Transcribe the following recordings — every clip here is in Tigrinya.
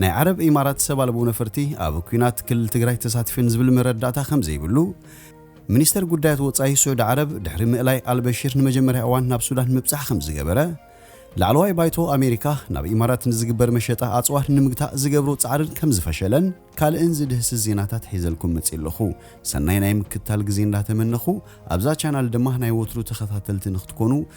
ናይ ዓረብ ኢማራት ሰብ ኣልቦ ነፈርቲ ኣብ ኲናት ክልል ትግራይ ተሳቲፈን ዝብል መረዳእታ ከምዘይብሉ ሚኒስተር ጉዳያት ወጻኢ ስዑዲ ዓረብ ድሕሪ ምእላይ ኣልበሽር ንመጀመርያ እዋን ናብ ሱዳን ምብጻሕ ከምዝገበረ ላዕለዋይ ባይቶ ኣሜሪካ ናብ ኢማራት ንዝግበር መሸጣ ኣጽዋር ንምግታእ ዝገብሮ ጻዕርን ከምዝፈሸለን ካልእን ዝድህስስ ዜናታት ሒዘልኩም መጽየ ኣለኹ። ሰናይ ናይ ምክትታል ግዜ እንዳተመነኹ ኣብዛ ቻናል ድማ ናይ ወትሩ ተኸታተልቲ ንክትኮኑ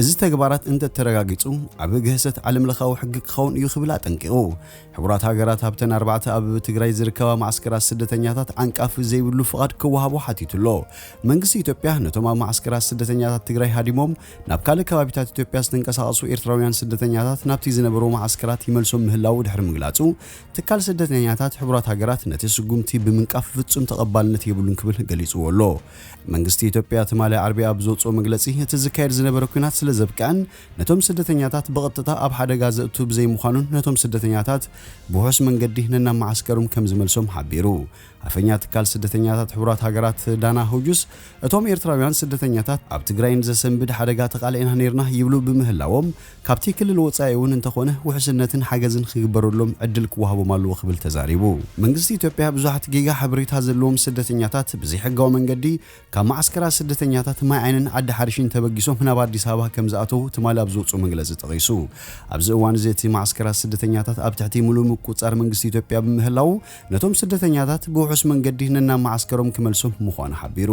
እዚ ተግባራት እንተ ተረጋጊጹ ዓቢ ግህሰት ዓለምለኻዊ ሕጊ ክኸውን እዩ ክብል ኣጠንቂቑ። ሕቡራት ሃገራት ኣብተን ኣርባዕተ ኣብ ትግራይ ዝርከባ መዓስከራት ስደተኛታት ዓንቃፊ ዘይብሉ ፍቓድ ክወሃቦ ሓቲቱ ኣሎ። መንግስቲ ኢትዮጵያ ነቶም ኣብ መዓስከራት ስደተኛታት ትግራይ ሃዲሞም ናብ ካልእ ከባቢታት ኢትዮጵያ ዝተንቀሳቐሱ ኤርትራውያን ስደተኛታት ናብቲ ዝነበርዎ መዓስከራት ይመልሶም ምህላዉ ድሕሪ ምግላጹ ትካል ስደተኛታት ሕቡራት ሃገራት ነቲ ስጉምቲ ብምንቃፍ ፍጹም ተቐባልነት የብሉን ክብል ገሊጽዎ ኣሎ። መንግስቲ ኢትዮጵያ ትማሊ ዓርቢ ኣብ ዘውጽኦ መግለጺ፣ እቲ ዝካየድ ዝነበረ ኲናት ስለዘብቅዐን ነቶም ስደተኛታት ብቐጥታ ኣብ ሓደጋ ዘእቱ ብዘይምዃኑን ነቶም ስደተኛታት ብውሑስ መንገዲ ነናብ መዓስከሮም ከምዝመልሶም ሓቢሩ። ኣፈኛ ትካል ስደተኛታት ሕቡራት ሃገራት ዳና ሁጁስ እቶም ኤርትራውያን ስደተኛታት ኣብ ትግራይ ንዘሰንብድ ሓደጋ ተቓሊዕና ኔርና ይብሉ ብምህላዎም ካብቲ ክልል ወፃኢ እውን እንተኾነ ውሕስነትን ሓገዝን ኽግበረሎም ዕድል ክወሃቦም ኣለዎ ክብል ተዛሪቡ። መንግስቲ ኢትዮጵያ ብዙሓት ጌጋ ሓበሬታ ዘለዎም ስደተኛታት ብዘይሕጋዊ መንገዲ ካብ መዓስከራት ስደተኛታት ማይ ዓይንን ዓዲ ሓርሽን ተበጊሶም ናብ ኣዲስ ኣበባ ከምዝኣተዉ ትማሊ ኣብ ዘውፅኦ መግለፂ ጠቒሱ። ኣብዚ እዋን እዚ እቲ መዓስከራት ስደተኛታት ኣብ ትሕቲ ሙሉእ ምቁፅፃር መንግስቲ ኢትዮጵያ ብምህላዉ ነቶም ስደተኛታት ብውሑስ መንገዲ ነናብ መዓስከሮም ክመልሶም ምዃኑ ሓቢሩ።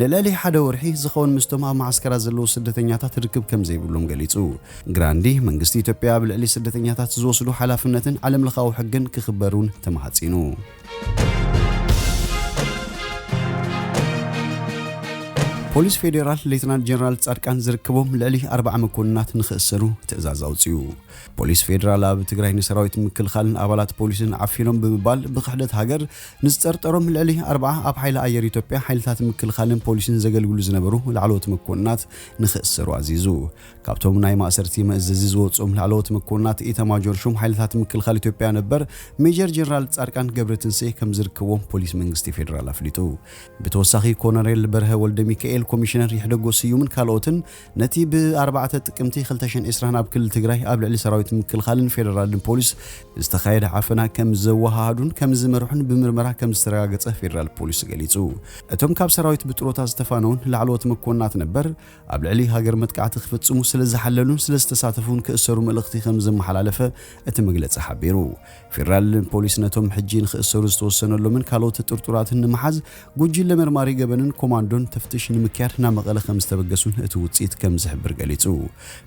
ንልዕሊ ሓደ ወርሒ ዝኸውን ምስቶም ኣብ መዓስከራት ዘለዉ ስደተኛታት ርክብ ከም ዘይብሎም ገሊጹ። ግራንዲ፣ መንግስቲ ኢትዮጵያ ኣብ ልዕሊ ስደተኛታት ዝወስዶ ሓላፍነትን ዓለምለኻዊ ሕግን ክኽበር እውን ተማሕጺኑ። ፖሊስ ፌዴራል ሌተናል ጀነራል ፃድቃን ዝርከቦም ልዕሊ ኣርባዓ መኮንናት ንኽእሰሩ ትእዛዝ ኣውፂኡ። ፖሊስ ፌዴራል ኣብ ትግራይ ንሰራዊት ምክልኻልን ኣባላት ፖሊስን ዓፊኖም ብምባል ብክሕደት ሃገር ንዝጠርጠሮም ልዕሊ ኣርብዓ ኣብ ሓይሊ ኣየር ኢትዮጵያ፣ ሓይልታት ምክልኻልን ፖሊስን ዘገልግሉ ዝነበሩ ላዕለዎት መኮንናት ንኽእሰሩ ኣዚዙ። ካብቶም ናይ ማእሰርቲ መእዘዚ ዝወጽኡም ላዕለዎት መኮንናት ኢታማጆር ሹም ሓይልታት ምክልኻል ኢትዮጵያ ነበር ሜጀር ጀነራል ጻድቃን ገብረትንስኤ ከምዝርከብዎም ፖሊስ መንግስቲ ፌደራል ኣፍሊጡ። ብተወሳኺ ኮነሬል በርሀ ወልደሚካኤል፣ ኮሚሽነር ይሕደጎ ስዩምን ካልኦትን ነቲ ብ ኣርባዕተ ጥቅምቲ ክልተ ሽሕን ዕስራን ኣብ ክልል ትግራይ ኣብ ልዕሊ ሰራዊት ምክልኻልን ፌደራልን ፖሊስ ዝተኻየደ ዓፈና ከም ዘወሃሃዱን ከም ዝመርሑን ብምርመራ ከም ዝተረጋገፀ ፌደራል ፖሊስ ገሊፁ። እቶም ካብ ሰራዊት ብጥሮታ ዝተፋነዉን ላዕለዎት መኮንናት ነበር ኣብ ልዕሊ ሃገር መጥቃዕቲ ክፍፅሙ ስለ ዝሓለሉን ስለ ዝተሳተፉን ክእሰሩ መልእኽቲ ከም ዘመሓላለፈ እቲ መግለፂ ሓቢሩ። ፌደራል ፖሊስ ነቶም ሕጂ ንኽእሰሩ ዝተወሰነሎምን ካልኦት ጥርጡራትን ንምሓዝ ጉጅለ መርማሪ ገበንን ኮማንዶን ተፍትሽ ንምክያድ ናብ መቐለ ከም ዝተበገሱን እቲ ውጽኢት ከም ዝሕብር ገሊጹ።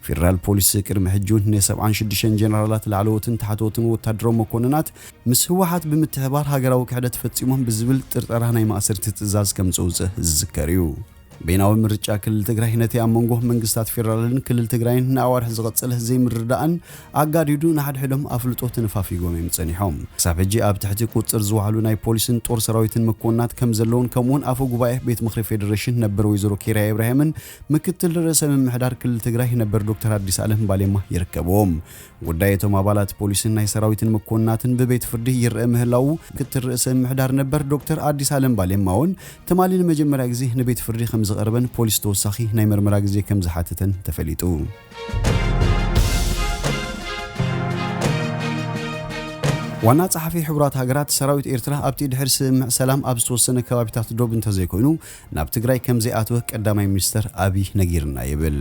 ፌደራል ፖሊስ ቅድሚ ሕጂ እውን ን ሰብዓን ሽዱሽተን ጀነራላት ላዕለዎትን ታሕተዎትን ወታደራዊ መኮንናት ምስ ህወሓት ብምትሕብባር ሃገራዊ ክሕደት ፈጺሞም ብዝብል ጥርጠራ ናይ ማእሰርቲ ትእዛዝ ከም ዘውጽእ ዝዝከር እዩ። በይናዊ ምርጫ ክልል ትግራይ ነቲ ኣብ መንጎ መንግስታት ፌደራልን ክልል ትግራይን ንኣዋርሕ ዝቐጸለ ዘይምርድዳእን ኣጋዲዱ ንሓድሕዶም ኣፍልጦ ተነፋፊጎም እዮም ጸኒሖም። ክሳብ ሕጂ ኣብ ትሕቲ ቁጽጽር ዝወዓሉ ናይ ፖሊስን ጦር ሰራዊትን መኮንናት ከምዘለዉን ከምኡ'ውን ኣፈ ጉባኤ ቤት ምኽሪ ፌደሬሽን ነበር ወይዘሮ ኬርያ ኢብራሂምን ምክትል ርእሰ ምምሕዳር ክልል ትግራይ ነበር ዶክተር ኣዲስ ኣለም ባሌማ ይርከብዎም። ጉዳይ እቶም ኣባላት ፖሊስን ናይ ሰራዊትን መኮንናትን ብቤት ፍርዲ ይረኣ ምህላዉ ምክትል ርእሰ ምምሕዳር ነበር ዶክተር ኣዲስ ኣለም ባሌማ እውን ትማሊ ንመጀመርያ ግዜ ንቤት ፍርዲ ከም ዝቐረበን ፖሊስ ተወሳኺ ናይ መርመራ ግዜ ከም ዝሓተተን ተፈሊጡ። ዋና ጸሓፊ ሕቡራት ሃገራት ሰራዊት ኤርትራ ኣብቲ ድሕሪ ስምምዕ ሰላም ኣብ ዝተወሰነ ከባቢታት ዶብ እንተዘይኮይኑ ናብ ትግራይ ከም ዘይኣትወ ቀዳማይ ሚኒስተር ኣብይ ነጊርና ይብል።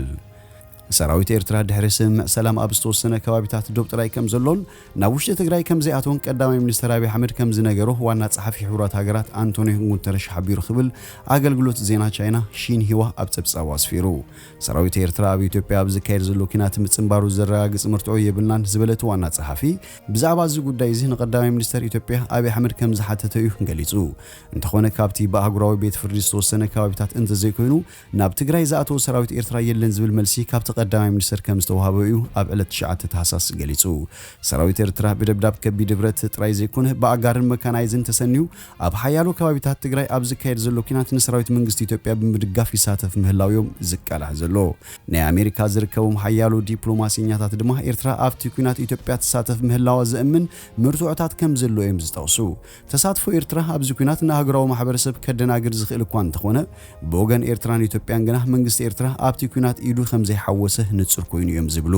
ሰራዊት ኤርትራ ድሕሪ ስምምዕ ሰላም ኣብ ዝተወሰነ ከባቢታት ዶብ ጥራይ ከምዘሎን ናብ ውሽጢ ትግራይ ከምዘይኣተወን ቀዳማይ ሚኒስተር ኣብይ ኣሕመድ ከምዝነገሮ ዋና ጸሓፊ ሕቡራት ሃገራት ኣንቶንዮ ጉተረሽ ሓቢሩ ክብል ኣገልግሎት ዜና ቻይና ሺንሂዋ ኣብ ጸብጻቡ ኣስፊሩ። ሰራዊት ኤርትራ ኣብ ኢትዮጵያ ኣብ ዝካየድ ዘሎ ኲናት ምጽንባሩ ዘረጋግጽ መርትዖ የብልናን ዝበለ እቲ ዋና ጸሓፊ፣ ብዛዕባ እዚ ጉዳይ እዚ ንቀዳማይ ሚኒስተር ኢትዮጵያ ኣብይ ኣሕመድ ከምዝሓተተ'ዩ ገሊጹ። እንተኾነ ካብቲ ብኣህጉራዊ ቤት ፍርዲ ዝተወሰነ ከባቢታት እንተዘይኮይኑ ናብ ትግራይ ዝኣተወ ሰራዊት ኤርትራ የለን ዝብል መልሲ ካብቲ ቀዳማይ ሚኒስተር ከም ዝተውሃቦ እዩ ኣብ ዕለት ትሽዓተ ታህሳስ ገሊጹ። ሰራዊት ኤርትራ ብደብዳብ ከቢድ ብረት ጥራይ ዘይኮነ ብኣጋርን መካናይዝን ተሰንዩ ኣብ ሓያሎ ከባቢታት ትግራይ ኣብ ዝካየድ ዘሎ ኲናት ንሰራዊት መንግስቲ ኢትዮጵያ ብምድጋፍ ይሳተፍ ምህላዉ'ዮም ዝቃላሕ ዘሎ። ናይ ኣሜሪካ ዝርከቦም ሓያሎ ዲፕሎማሴኛታት ድማ ኤርትራ ኣብቲ ኲናት ኢትዮጵያ ትሳተፍ ምህላዋ ዘእምን መርትዖታት ከም ዘሎ'ዮም ዝጠቕሱ። ተሳትፎ ኤርትራ ኣብዚ ኲናት ንኣህጉራዊ ማሕበረሰብ ከደናግር ዝኽእል እኳ እንተኾነ፣ ብወገን ኤርትራን ኢትዮጵያን ግና መንግስቲ ኤርትራ ኣብቲ ኲናት ኢዱ ከምዘይሓወሰ ንጹር ኮይኑ እዮም ዝብሉ።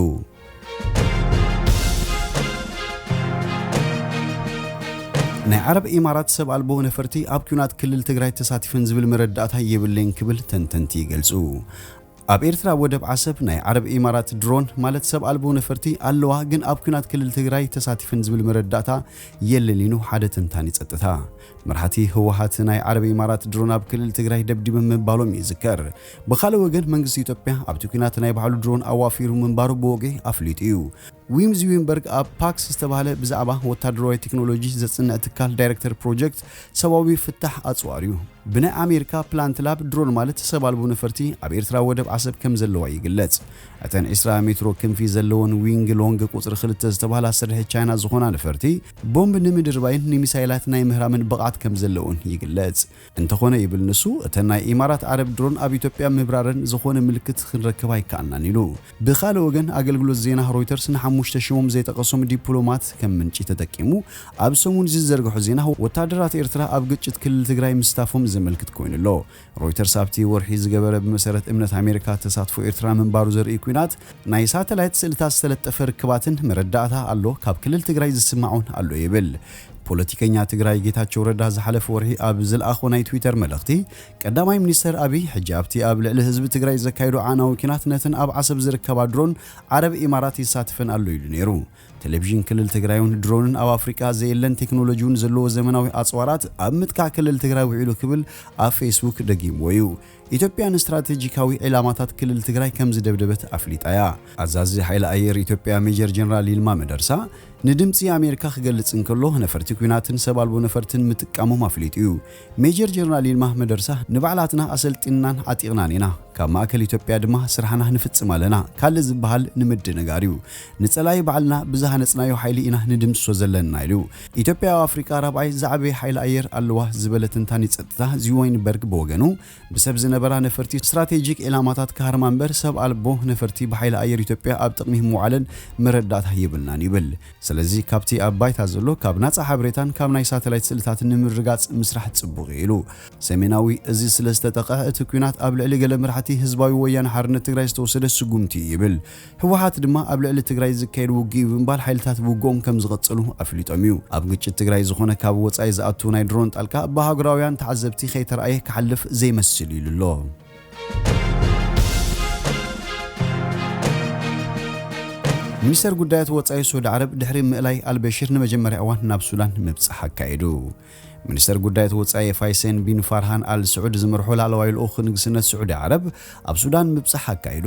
ናይ ዓረብ ኢማራት ሰብ ኣልቦ ነፈርቲ ኣብ ኲናት ክልል ትግራይ ተሳቲፈን ዝብል መረዳእታ የብለይን ክብል ተንተንቲ ይገልጹ። ኣብ ኤርትራ ኣብ ወደብ ዓሰብ ናይ ዓረብ ኢማራት ድሮን ማለት ሰብ ኣልቦ ነፈርቲ ኣለዋ ግን ኣብ ኲናት ክልል ትግራይ ተሳቲፈን ዝብል መረዳእታ የለን ኢሉ ሓደ ተንታኒ ጸጥታ። መራሕቲ ህወሓት ናይ ዓረብ ኢማራት ድሮን ኣብ ክልል ትግራይ ደብዲበን ምባሎም ይዝከር። ብኻልእ ወገን መንግስቲ ኢትዮጵያ ኣብቲ ኲናት ናይ ባዕሉ ድሮን ኣዋፊሩ ምንባሩ ብወግዒ ኣፍሊጡ እዩ። ዊም ዝዊምበርግ ኣብ ፓክስ ዝተባህለ ብዛዕባ ወታደራዊ ቴክኖሎጂ ዘጽንዕ ትካል ዳይረክተር ፕሮጀክት ሰብኣዊ ፍታሕ ኣጽዋር እዩ። ብናይ ኣሜሪካ ፕላንት ላብ ድሮን ማለት ሰብ ኣልቦ ነፈርቲ ኣብ ኤርትራ ወደብ ዓሰብ ከም ዘለዋ ይግለጽ። እተን ዕስራ ሜትሮ ክንፊ ዘለወን ዊንግ ሎንግ ቁጽሪ ክልተ ዝተባህላ ስርሒ ቻይና ዝኾና ነፈርቲ ቦምብ ንምድርባይን ንሚሳይላት ናይ ምህራምን ብቕዓት ከም ዘለወን ይግለጽ። እንተኾነ ይብል ንሱ፣ እተን ናይ ኢማራት ዓረብ ድሮን ኣብ ኢትዮጵያ ምብራረን ዝኾነ ምልክት ክንረክብ ኣይከኣልናን ኢሉ። ብኻልእ ወገን ኣገልግሎት ዜና ሮይተርስ ንሓሙሽተ ሽሞም ዘይጠቐሶም ዲፕሎማት ከም ምንጪ ተጠቂሙ ኣብ ሰሙን'ዚ ዝዘርግሖ ዜና፣ ወተሃደራት ኤርትራ ኣብ ግጭት ክልል ትግራይ ምስታፎም ዘመልክት ኮይኑ ኣሎ። ሮይተርስ ኣብቲ ወርሒ ዝገበረ ብመሰረት እምነት ኣሜሪካ ተሳትፎ ኤርትራ ምንባሩ ዘርእይ ኲናት ናይ ሳተላይት ስእልታት ዝተለጠፈ ርክባትን መረዳእታ ኣሎ፣ ካብ ክልል ትግራይ ዝስማዕ'ውን ኣሎ ይብል። ፖለቲከኛ ትግራይ ጌታቸው ረዳ ዝሓለፈ ወርሒ ኣብ ዝልኣኾ ናይ ትዊተር መልእኽቲ፣ ቀዳማይ ሚኒስተር ኣብይ ሕጂ ኣብቲ ኣብ ልዕሊ ህዝቢ ትግራይ ዘካይዶ ኣዕናዊ ኲናት ነተን ኣብ ዓሰብ ዝርከባ ድሮን ዓረብ ኢማራት ይሳተፈን ኣሎ ኢሉ ነይሩ። ቴሌቪዥን ክልል ትግራይ'ውን ድሮንን ኣብ ኣፍሪቃ ዘየለን ቴክኖሎጂ'ውን ዘለዎ ዘመናዊ ኣጽዋራት ኣብ ምጥቃዕ ክልል ትግራይ ውዒሉ ክብል ኣብ ፌስቡክ ደጊምዎ እዩ። ኢትዮጵያ ንስትራቴጂካዊ ዒላማታት ክልል ትግራይ ከምዝደብደበት ኣፍሊጣ'ያ። ኣዛዚ ሓይሊ ኣየር ኢትዮጵያ ሜጀር ጀነራል ይልማ መደርሳ ንድምጺ ኣሜሪካ ክገልጽ እንከሎ ነፈርቲ ኲናትን ሰብ ኣልቦ ነፈርትን ምጥቃሞም ኣፍሊጡ'ዩ። ሜጀር ጀነራል ይልማ መደርሳ ንባዕላትና ኣሰልጢንናን ዓጢቕናን ኢና፣ ካብ ማእከል ኢትዮጵያ ድማ ስራሕና ንፍጽም ኣለና ካልእ ዝበሃል ንምድንጋር'ዩ። ንጸላኢ ባዕልና ብዝሃነጽናዮ ሓይሊ ኢና ንድምስሶ ዘለና ኢሉ። ኢትዮጵያ ኣብ ኣፍሪቃ ራብዓይ ዝዓበየ ሓይሊ ኣየር ኣለዋ ዝበለ ተንታኒ ጸጥታ ዚወይን በርግ ብወገኑ፣ ብሰብ ዝነበራ ነፈርቲ ስትራቴጂክ ዒላማታት ክሃርማ እምበር ሰብ ኣልቦ ነፈርቲ ብሓይሊ ኣየር ኢትዮጵያ ኣብ ጥቕሚ ምውዓለን መረዳእታ የብልናን ይብል። ስለዚ ካብቲ ኣብ ባይታ ዘሎ ካብ ናጻ ሓበሬታን ካብ ናይ ሳተላይት ስእልታት ንምርግጋጽ ምስራሕ ጽቡቕ'ዩ ኢሉ። ሰሜናዊ እዚ ስለዝተጠቕዐ እቲ ኲናት ኣብ ልዕሊ ገለ መራሕቲ ህዝባዊ ወያነ ሓርነት ትግራይ ዝተወሰደ ስጉምቲ'ዩ ይብል። ህወሓት ድማ ኣብ ልዕሊ ትግራይ ዝካየድ ውግእ'ዩ ብምባል ሓይልታት ብውግኦም ከም ዝቕጽሉ ኣፍሊጦም'ዩ። ኣብ ግጭት ትግራይ ዝኾነ ካብ ወጻኢ ዝኣቱ ናይ ድሮን ጣልቃ ብኣህጉራውያን ተዓዘብቲ ከይተራእየ ክሓልፍ ዘይመስል'ዩ ኢሉ ኣሎ። ሚኒስተር ጉዳያት ወጻኢ ስዑድ ዓረብ ድሕሪ ምእላይ ኣልበሽር ንመጀመርያ እዋን ናብ ሱዳን ምብጻሕ ኣካይዱ። ሚኒስተር ጉዳያት ወጻኢ ፋይሴን ቢን ፋርሃን ኣል ስዑድ ዝምርሖ ላዕለዋይ ልኡኽ ንግስነት ስዑዲ ዓረብ ኣብ ሱዳን ምብጻሕ ኣካይዱ።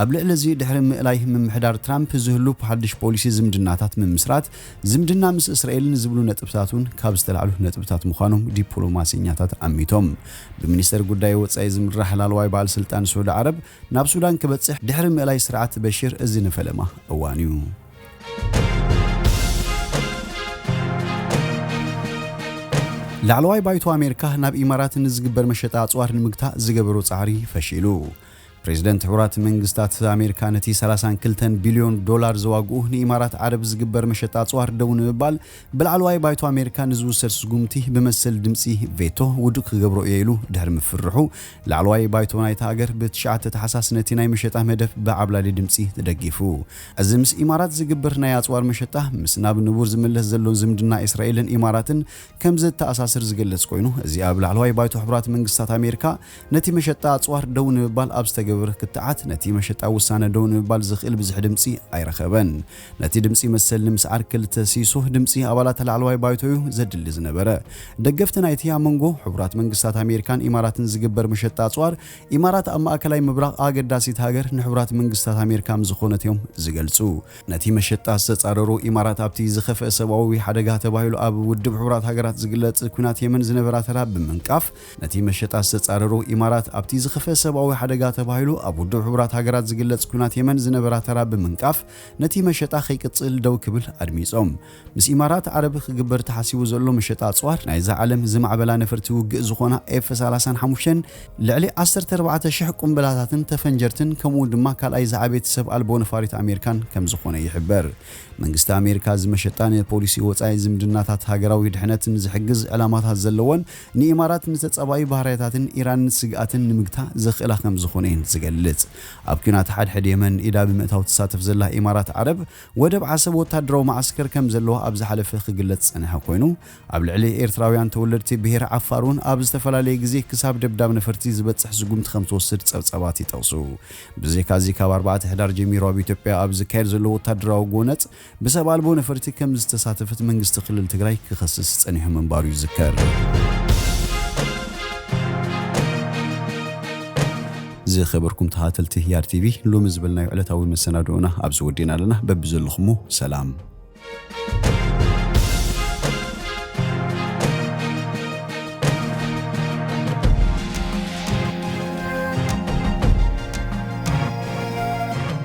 ኣብ ልዕሊ እዚ ድሕሪ ምእላይ ምምሕዳር ትራምፕ ዝህሉ ሓድሽ ፖሊሲ ዝምድናታት ምምስራት ዝምድና ምስ እስራኤልን ዝብሉ ነጥብታት እውን ካብ ዝተላዕሉ ነጥብታት ምዃኖም ዲፕሎማሰኛታት ኣሚቶም። ብሚኒስተር ጉዳይ ወጻኢ ዝምራሕ ላዕለዋይ በዓል ስልጣን ስዑዲ ዓረብ ናብ ሱዳን ክበጽሕ ድሕሪ ምእላይ ስርዓት በሽር እዚ ንፈለማ እዋን እዩ። ላዕለዋይ ባይቶ ኣሜሪካ ናብ ኢማራት ንዝግበር መሸጣ ኣጽዋር ንምግታእ ዝገበሮ ጻዕሪ ፈሺሉ። ፕሬዝደንት ሕቡራት መንግስታት ኣሜሪካ ነቲ ሰላሳን ክልተን ቢልዮን ዶላር ዘዋግኡ ንኢማራት ዓረብ ዝግበር መሸጣ ኣፅዋር ደው ንምባል ብላዕለዋይ ባይቶ ኣሜሪካ ንዝውሰድ ስጉምቲ ብመሰል ድምፂ ቬቶ ውዱእ ክገብሮ እየ ኢሉ ድሕሪ ምፍርሑ ላዕለዋይ ባይቶ ናይታ ሃገር ብትሽዓተ ታሕሳስ ነቲ ናይ መሸጣ መደብ ብዓብላሊ ድምፂ ተደጊፉ። እዚ ምስ ኢማራት ዝግበር ናይ ኣፅዋር መሸጣ ምስ ናብ ንቡር ዝምለስ ዘሎን ዝምድና እስራኤልን ኢማራትን ከምዘተኣሳስር ዝገልፅ ኮይኑ እዚ ኣብ ላዕለዋይ ባይቶ ሕቡራት መንግስታት ኣሜሪካ ነቲ መሸጣ ኣጽዋር ደው ንምባል ኣብ ዝተገብር ክትዓት ነቲ መሸጣ ውሳነ ደው ንምባል ዝኽእል ብዝሒ ድምጺ ኣይረኸበን። ነቲ ድምጺ መሰል ንምስዓር ክልተ ሲሶ ድምጺ ኣባላት ላዕለዋይ ባይቶ'ዩ ዘድሊ ዝነበረ። ደገፍቲ ናይቲ ኣብ መንጎ ሕቡራት መንግስታት ኣሜሪካን ኢማራትን ዝግበር መሸጣ ኣጽዋር፣ ኢማራት ኣብ ማእከላይ ምብራቕ ኣገዳሲት ሃገር ንሕቡራት መንግስታት ኣሜሪካ ምዝኾነት'ዮም ዝገልጹ። ነቲ መሸጣ ዝተጻረሩ ኢማራት ኣብቲ ዝኸፍአ ሰብኣዊ ሓደጋ ተባሂሉ ኣብ ውድብ ሕቡራት ሃገራት ዝግለጽ ኲናት የመን ዝነበራ ተራ ብምንቃፍ፣ ነቲ መሸጣ ዝተጻረሩ ኢማራት ኣብቲ ዝኸፍኤ ሰብኣዊ ሓደጋ ተባሂሉ ኣብ ውድብ ሕቡራት ሃገራት ዝግለጽ ኲናት የመን ዝነበራ ተራ ብምንቃፍ ነቲ መሸጣ ከይቅጽል ደው ክብል ኣድሚጾም። ምስ ኢማራት ዓረብ ክግበር ተሓሲቡ ዘሎ መሸጣ ኣጽዋር ናይዛ ዓለም ዝማዕበላ ነፈርቲ ውግእ ዝኾና ኤፍ ሰላሳን ሓሙሽተን ልዕሊ ዓሰርተ ኣርባዕተ ሽሕ ቁምብላታትን ተፈንጀርትን ከምኡ'ውን ድማ ካልኣይ ዝዓበየት ሰብ ኣልቦ ነፋሪት ኣሜሪካን ከምዝኾነ ይሕበር። መንግስቲ ኣሜሪካ እዚ መሸጣ ንፖሊሲ ወጻኢ ዝምድናታት ሃገራዊ ድሕነትን ዝሕግዝ ዕላማታት ዘለዎን ንኢማራት ንተጻባኢ ባህርያታትን ኢራን ንስግኣትን ንምግታእ ዘኽእላ ከም ዝኾነ'የን ዝገልጽ። ኣብ ኲናት ሓድሕድ የመን ኢዳ ብምእታው ትሳተፍ ዘላ ኢማራት ዓረብ፣ ወደብ ዓሰብ ወተሃደራዊ መዓስከር ከም ዘለዋ ኣብ ዝሓለፈ ክግለጽ ዝጸንሐ ኮይኑ፣ ኣብ ልዕሊ ኤርትራውያን ተወለድቲ ብሄር ዓፋር'ውን ኣብ ዝተፈላለየ ግዜ ክሳብ ደብዳብ ነፈርቲ ዝበጽሕ ስጉምቲ ከም ትወስድ ጸብጻባት ይጠቕሱ። ብዘይካ'ዚ ካብ ኣርባዕተ ሕዳር ጀሚሩ ኣብ ኢትዮጵያ ኣብ ዝካየድ ዘሎ ወተሃደራዊ ጎነጽ፣ ብሰብ ኣልቦ ነፈርቲ ከም ዝተሳተፈት መንግስቲ ክልል ትግራይ ክኸስስ ፀኒሑ ምንባሩ ይዝከር። ዝኸበርኩም ተኸታተልቲ ህያር ቲቪ ሎሚ ዝበልናዮ ዕለታዊ መሰናድኦና ኣብዚ ወዲእና ኣለና። በብዘለኹሞ ሰላም